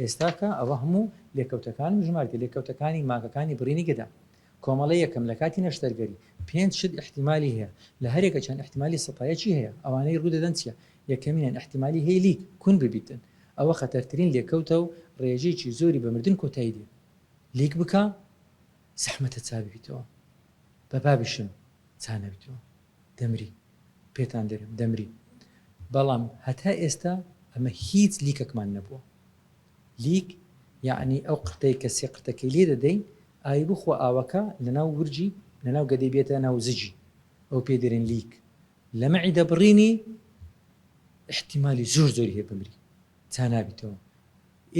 ئێستاکە ئەوە هەموو لێکەوتەکان و ژمارکە لێکەوتەکانی ماکەکانی بڕینی گەدە. کۆمەڵە یەکەم لە کاتی نەشتەرگەری پێنج شت ئیحتیمالی هەیە، لە هەرێکە چەند ئیحتیمالی سەتایەکی هەیە، ئەوانەی ڕوودەدەن چیە؟ یەکەمینیان ئیحتیمالی هەیە لیک، کون ببیتن، ئەوە خەتەرترین لێکەوتە و ڕێژەیەکی زۆری بە مردن کۆتایی دێ. لیک بکە، زەحمەتە چا ببیتەوە بە بابیشم چا نەبیتەوە دەمری پێتان دەرێم دەمری بەڵام هەتا ئێستا ئەمە هیچ لیکەکمان نەبووە لیک یعنی ئەو قرتەی کە سێ قرتەکەی لێ دەدەین ئای بخوا ئاوەکە لەناو ورجی لەناو گەدەی بێتە ناو زجی ئەو پێ دەرێن لیک لە مەعی دەبڕینی احتیمالی زۆر زۆری هەیە بمری چا نابیتەوە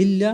ئللا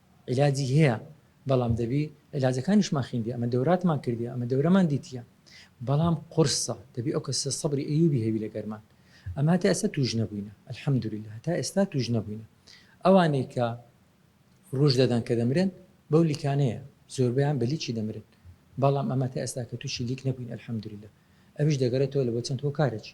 عیلاجی هەیە بەڵام دەبی عیلاجەکانیشمان خیندی ئەمە دەوراتمان کردی ئەمە دەورەمان دیتیە بەڵام قورسە دەبی ئەو کەسە سەبری ئەیوبی هەبی لەگەرمان ئەمە هەتا ئێستا توش نەبووینە الحمدللە هەتا ئێستا توش نەبووینە ئەوانەی کە ڕوژ دەدەن کە دەمرن بەو لیکانەیە زۆربیان بە لیکی دەمرن بەڵام ئەمە تا ئێستا کە توشی لیک نەبووین الحمدللە ئەویش دەگەرێتەوە لە بۆ چەند هۆکارێکی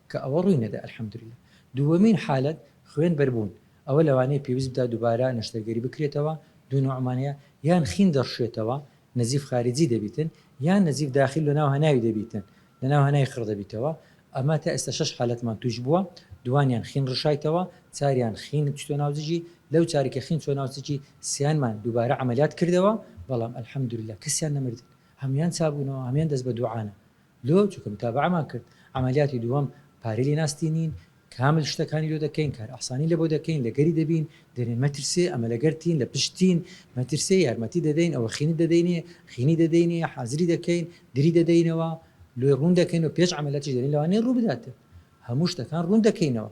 کە ئەوە ڕووی نەدا الحمدللە. دووەمین حالەت خوێن بەر بوون، ئەوە لەوانەیە پێویست بدا دووبارە نەشتەرگەری بکرێتەوە، دوو نوعمان هەیە، یان خین دەڕشێتەوە، نزیف خارجی دەبیتن، یان نزیف داخل لە ناو هەناوی دەبیتن، لە ناو هەناوی خڕ دەبیتەوە، ئەمە تا ئێستا شەش حالەتمان تووش بووە، دووانیان خین ڕشایتەوە، چاریان خین چتۆ ناو زگی، لەو چاری کە خین چۆ ناو زگی سیانمان دووبارە عەمەلیات کردەوە، بەڵام الحمدللە کەسیان نەمردن، هەموویان چابوونەوە، هەموویان دەست بە دووعانە، لۆ چونکە متابەعەمان کرد عەمەلیاتی دووەم پارەی لێ ناستینین کامل شتەکانی لۆ دەکەین کار ئاسانی لەبۆ دەکەین لەگەری دەبین دەرێن مەترسێ ئەمە لەگەرتین لە پشتین مەترسێ یارمەتی دەدەین ئەوە خینت دەدەینێ خینی دەدەینێ حازری دەکەین دری دەدەینەوە لۆی ڕوون دەکەین و پێش عەمەلیاتیش دەرێن لەوانەیە ڕوو بداتێ هەموو شتەکان ڕوون دەکەینەوە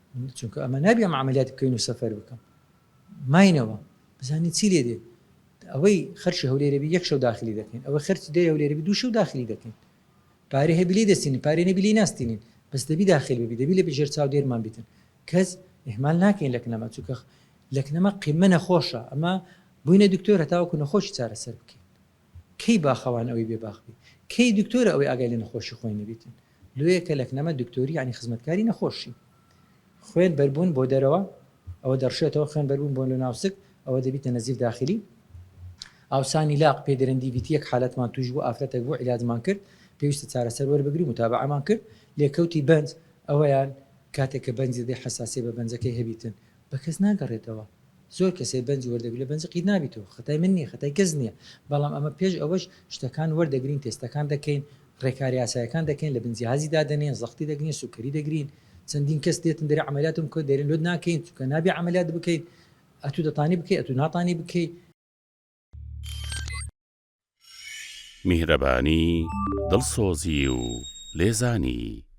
چونکە ئەمە نابێ ئەم عملیات بکەین و سەفەر بکەم ماینەوە بزانین چی لێ دێت ئەوەی خەرشی هەولێرەبی یەک شەو داخلی دەکەین ئەوە خەرچ دێ هەولێرەبی دوو شەو داخلی دەکەین پارێ هەبی لێ دەستین پارێ نەبی لێ ناستینین بەس دەبی داخل ببی دەبی لە بژێر چاو دێرمان بیتن کەس ئهمال ناکەین لەکنەمە چووکە لەکنەمە قیمە نەخۆشە ئەمە بووینە دکتۆر هەتاوەکو نەخۆشی چارەسەر بکەین کەی باخەوان ئەوەی بێ باخ بی کەی دکتۆرە ئەوەی ئاگای لە نەخۆشی خۆی نەبیتن لۆیە کە لە کنەمە دکتۆری یانی خزمەتکاری نەخۆشی خوێن بەربوون بۆ دەرەوە ئەوە دەڕشێتەوە خوێن بەربوون بۆ لە ناوسک ئەوە دەبیتە نەزیف داخلی ئاوسانی لاق پێ درەندی بیت یەک حالەتمان توش بوو ئافرەتێک بۆ علاجمان کرد پێویستە چارەسەر وەربگری و متابعمان کرد لێکەوتی بەنج ئەوەیان کاتێک کە بەنجی دەی حساسیە بە بەنجەکەی هەبیتن بە کەس ناگەڕێتەوە زۆر کەسێ بەنج وەردەگرێ بەنج قیت نابیتەوە خەتای من نیە خەتای کەس نیە بەڵام ئەمە پێش ئەوەش شتەکان وەردەگرین تێستەکان دەکەین ڕێکارە یاسایەکان دەکەین لە بن جیهازی دادەنێن زەختی دەگرین سوکەری دەگرین چەندین کەس دێتن دەرێ عەمەلیاتم بکە دەرێن لۆت ناکەین چونکە نابێ عەمەلیات بکەیت ئەتوو دەتانی بکەی ئەتوو ناتانی بکەی. میهرەبانی، دڵسۆزی و لێزانی.